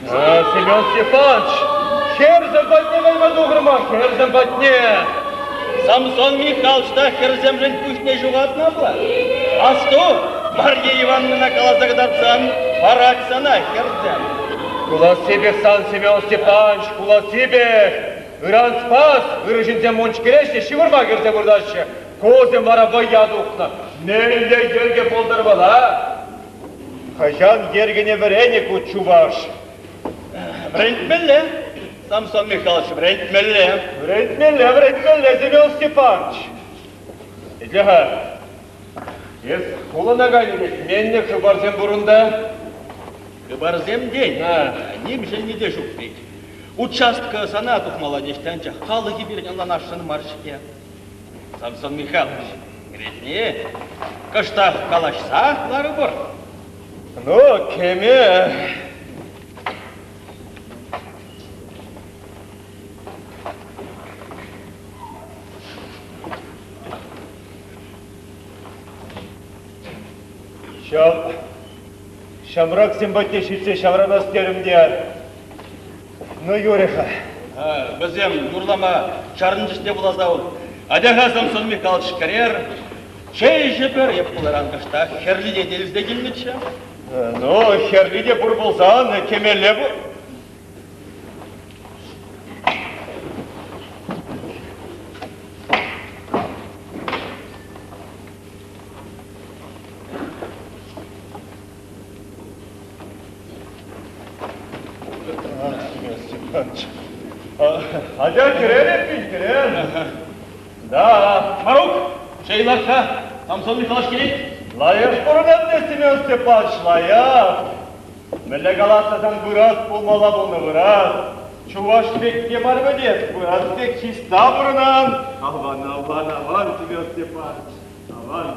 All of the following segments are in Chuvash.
Семен Степанович, хӗрсем патне кайма тухрӑмӑр, хӗрсем патне. Самсон Михалч та хӗрсемшӗн пуҫне ҫухатнӑ пулать. Асту, Марья Ивановнӑна каласа кӑтартсан, парак сана, хӗрсем. Кулассипех сан, Семен Степанович, кулассипех. Ыран спас, ырӑ ҫынсем мунч кӗреҫҫӗ, ҫывӑрма кӗрсе выртаҫҫӗ. Кусем вара вӑййа тухнӑ. Мӗнле йӗрке пултӑр вӑла? Хӑҫан йӗркене вӗренӗ ку чуваш? Вӗрентмелле, Самсон Михайлович, вӗрентмелле. Вӗрентмелле, вӗрентмелле, Семен Степанович. Итле-ха, эс хулана кайнӑ пек менле хыпарсем пур унта? Хыпарсем тен, ним ҫӗнни те ҫук вӗт. Участка сана тухмалла теҫҫӗ, анчах халӑхӗ пирӗн ӑнланасшӑн мар-ҫке. Самсон Михайлович, кӗретне кӑштах калаҫсах ларӑпӑр. Ну, кӗме. Ҫав ҫамраксем патне ҫитсе ҫаврӑнас терӗм те Ну, юрӗ-ха. Вӗсем юрлама чарӑн чухне пулас ав. Атя-ха, Самсон Михайлович, кӗрер. Чей ӗҫӗпӗр, эп пуларан кӑштах хӗрлине те илсе килнӗччӗ. Ну, хӗрли те пур пулсан, темелле пу. Ача кӗрерӗп-и, кӗрер. Да, Марук, Шейлакка, там сонный калаш керек? Лаяш курӑнат Степан Степанович, лаяш. Мӗнле калаттасан вырас пулмалла пулнӑ вырас. Чуваш пекке бар ведет, вырас пек чиста бұрынан. Аван, аван, аван, Степан Степанович, аван.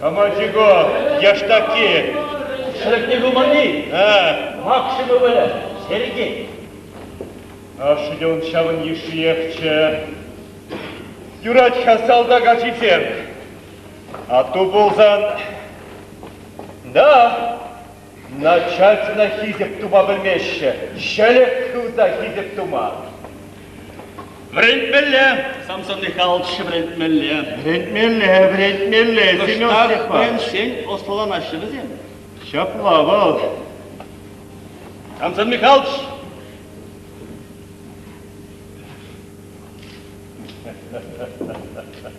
Комарчиков, яштаки. Шрифтне пыманни? Э. Максиму выльӑр, Сергей. Ашшӗ те он ҫавӑн йышшиехчӗ. Юрать-ха салтак ачисем. А ту пулсан... Да, Начальствӑна хисеп тума пӗлмеҫҫӗ, ҫӗлӗк хывса хисеп тума. Вӗрентмелле, Самсон Михайлович, вӗрентмелле. Вӗрентмелле, вӗрентмелле, Семен Степанович. Сен ӑслӑланаҫҫӗ вӗсем. Ҫапла вӑл. Самсон Михайлович.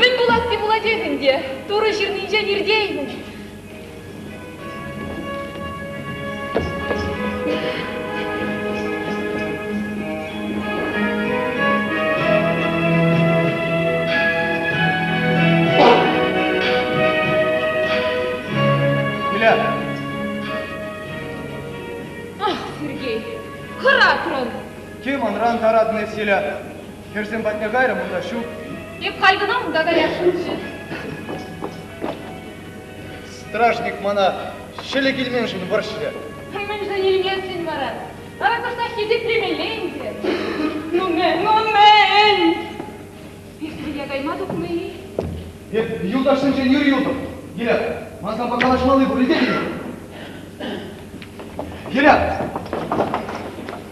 Мӗн пуласси пулатех ӗнтӗ, Турӑ ҫырнинчен иртеймӗн. Сергей, хӑратрӑн. Те манран таратнӑ эсселя? Хӗрсем патне кайрӑм, унта ҫук. Эп халь кӑна унта каясшӑнччӗ. Стражник мана ҫӗлӗ килменшӗн вӑрҫрӗ. Мӗншӗн илместӗн вара? Вара кӑштах хисеплемелле ӗнтӗ. Ну, мӗн, ну, мӗн! Пиксӗрӗке кайма тухнӑ-и? Эп юлташсенчен ир юлтӑм. Гирят, манпа калаҫмалли пур илтетӗн-и? Гирят!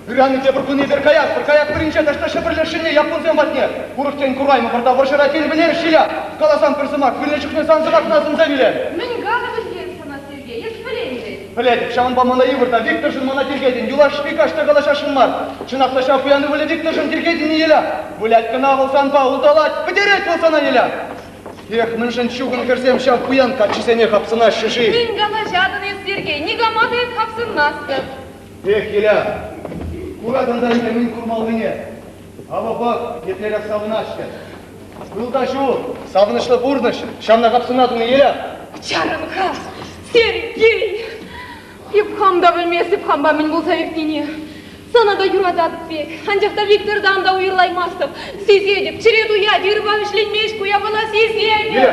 Ыран тепӗр кун эпир каяс, пӗр каяс пӗринче тӑҫта Ҫӗпӗрлешҫӗне яппунсем патне. Урӑхтен кураймӑпӑр та вӑрҫӑра тен пӗлерӗҫ-и ия? Каласан пӗр сӑмах, вилнӗ чухне сан сӑмахна сӑнса вилер. Мӗн калӑп ӗнтӗ эп сана, Сергей, эс пӗлен вӗт. Пӗлетӗп, ҫавӑнпа мана йывӑр та, Викторшӑн мана тиркетӗн. Юлашки каҫта калаҫасшӑн мар. Чӑнах та ҫав пуян ывӑлӗ Викторшӑн тиркетӗн-и, Еля? Вылять кӑна вӑл санпа, улталать, пӗтерет вӑл сана, Еля! Эх, мӗншӗн чухӑн хӗрсем ҫав пуян каччисене хапсӑнаҫҫӗ-ши? Мӗн калаҫатӑн эс, Сергей, никама та эс хапсӑнмастӑн. Эх, Еля, куратӑн та ӗнтӗ мӗн курмаллине. Авӑ пӑх, еплерех савӑнаҫҫӗ! Ҫул та ҫул савӑнӑҫлӑ пурнӑҫ ҫавна капсуна тунӑ-и? Чарӑм-ха, Сергей! Эп хам та пӗлместӗп хампа мӗн пулса иртнине. Сана та юрататӑп пек, анчах та Виктортан та уйӑрлаймастӑп. Сисетӗп, чӗре туять, ырпа вӗҫленмест ку япала, сисетӗп! Виле!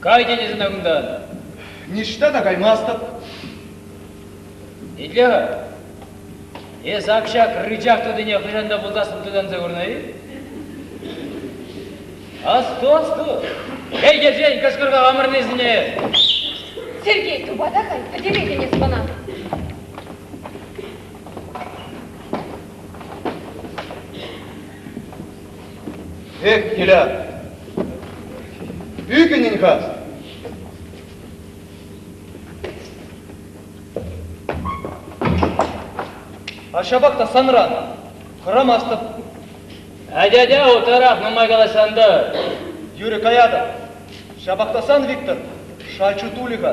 Кай тетӗн ӑна кунтан. Ниҫта та каймастӑп. Итле-ха. Эс ак ҫак рычах тутине хӑҫан та пултассӑн тытанса курнӑ-и? Асту, асту! Пӗлтерсен кӑшкӑрса амӑрнисене! Сергей, тупата хай, пӗтеретӗн эс мана. Эх, Тилян, ӳкӗнӗн-ха! А ҫапах та санран хӑрамастӑп. Атя-атя, утларах нумай калаҫсан-тӑр. Тӳрӗ каятӑп. Ҫапах та сан, Виктор, шачу тулӗ-ха.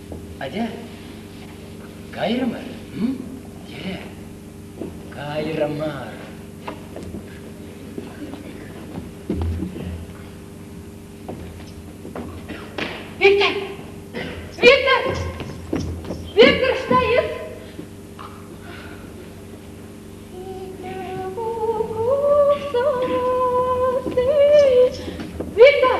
Атя, кайрӑмӑр, м? Йӗре, кайрӑ мар. Виктор! Виктор! Виктор, что есть? Виктор!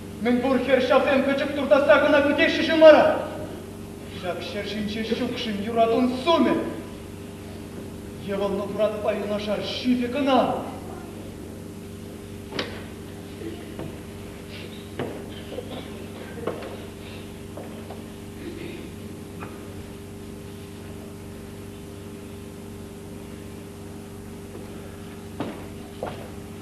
Мӗнпур хӗр ҫасем пӗчӗк туртасса кӑна кӳтеҫҫӗ-ши мара? Ҫак ҫӗр ҫинче ҫукшӑн юратун сумӗ. Йӑвӑнлӑ туратпа юнашар ҫитӗ кӑна.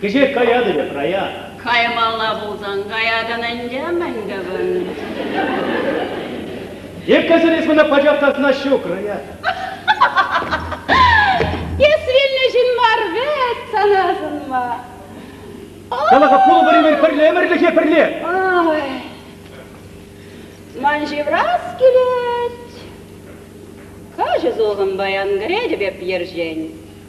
Кӗҫех каятӑн эп, Рая. Каймалла пулсан каятӑн ӗнтӗ, мӗн тӑвӑн? Еккесӗр эс мана пачахтасна ҫук, Рая. Эс вилнӗ ҫын мар вӗт сана сунма. Кала-ха, пулвӑр-имӗр пӗрле, ӗмӗрлӗхе пӗрле. Ой, ман ҫыврас килет. Каҫӑ сулхӑн паян кӗретӗп эп ерҫен.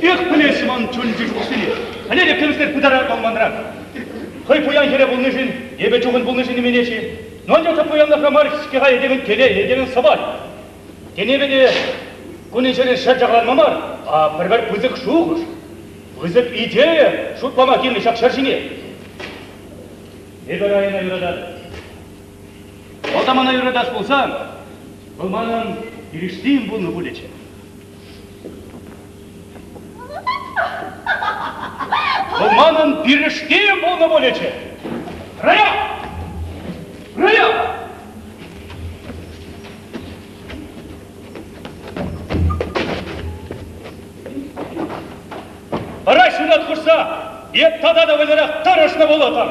Эх, пӗлесшӗн ман чун-чӗн укҫине. Валерий кӗмсӗр пытарать ман манран. Хӑй пуян хӗре пулнишӗн, эпӗ чухӑн пулнишӗн именет-ши? Но анчах та пуянлӑхра мар-ҫке-ха этемӗн телей, этемӗн сӑпай. Тенепе те кунӗн-ҫӗрӗн ҫӗр чакаланма мар, а пӗр-пӗр пысӑк шухӑш, пысӑк идея шутлама килнӗ ҫак ҫӗр ҫине. Эпӗ района юрататӑп. Атамана юратас пулсан, вӑл манӑн килӗшсем пулнӑ пулӗччӗ. Вӑл манӑн пирӗштем пулнӑ пулӗччӗ. Рая! Рая! Ара ҫунат хушса эп тата та вӑйлӑрах тӑрӑшнӑ пулӑттӑм.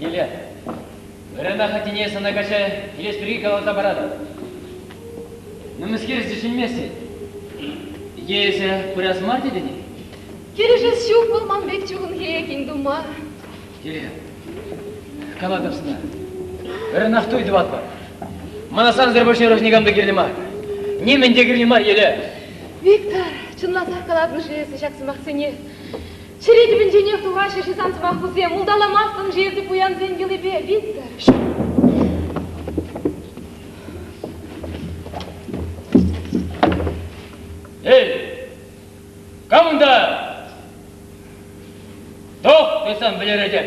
Нимле, вырӑна хӑтине сана каҫа килес пирки каласа паратӑп. Мӗнскер чӗчӗнмест-и? Икӗ пырас мар тетӗн-и? Килӗшес ҫук вӑл ман пек чухӑнхи кинь тума. Кирилл, калатӑп сана, вырӑнах туй тӑватпӑр. Мана сансӑр больше ырӑш никам та кирлӗ мар. Нимӗн те кирлӗ мар еле. Виктор, чӑнласах калатӑн-ши эсӗ ҫак сӑмахсене? Чӗре тӗпӗнченех тухаҫҫӗ ши сан сӑмахусем. Улталамастӑн-ши эсӗ пуянсен йӑлипе, Виктор? Эй, кам унта? Тох, тойсан вӗлеретӗп.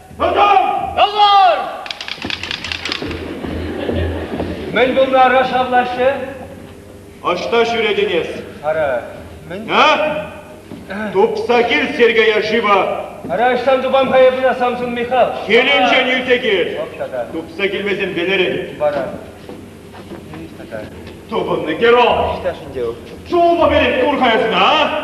Мӗн пулнӑ ара шавлаҫҫӗ? Ӑҫта ҫӳретӗн эс? Ара, мӗн? Тупса кил Сергея шыва. Ара, ӑҫтан тупам-ха эпӗ Самсун Михал? Килӗнчен илсе кил. Тупса килмесен пӗлерӗн. Вара. Тупӑннӑ герой. Чулпа перет кур-ха эсна, а?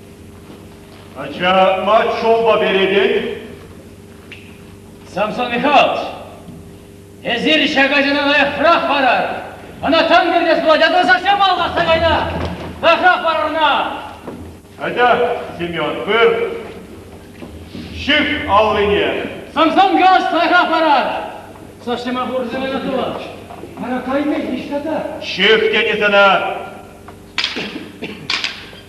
Ача Мачоба перетӗн? Самсон Михайлович, эсир ҫак ачана лайӑхрах парӑр. Ӑна тан кӗртес пулать, а то совсем алхасса кайнӑ. Лайӑхрах парӑр ӑна. Атя, Семен, пыр! Ҫык аллине! Самсон Михайлович лайӑхрах парӑр. Совсема хурсем ӑна тулаш. Мана кайнӑ ниҫта та. Ҫык тени сана!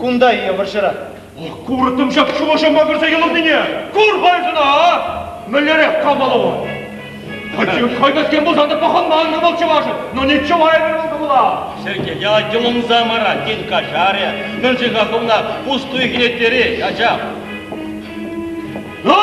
Кунта е вӑрҫӑра. Куртӑм ҫак шухӑша макӑрса йӑлӑннине! Кур пайсӑна, а! Мӗнлерех кавалу? Хӑчи хӑйкӗскен пулсан та пӑхӑнма ӑнтӑ вӑл чӑвашӑн, но не чувайӑн вӑл кӑмӑла! Сӗке, я йӑлӑнса мара, тен, каҫарӗ, мӗншӗн-ха хӑвна пустуй хӗнеттери, ачам? Ну!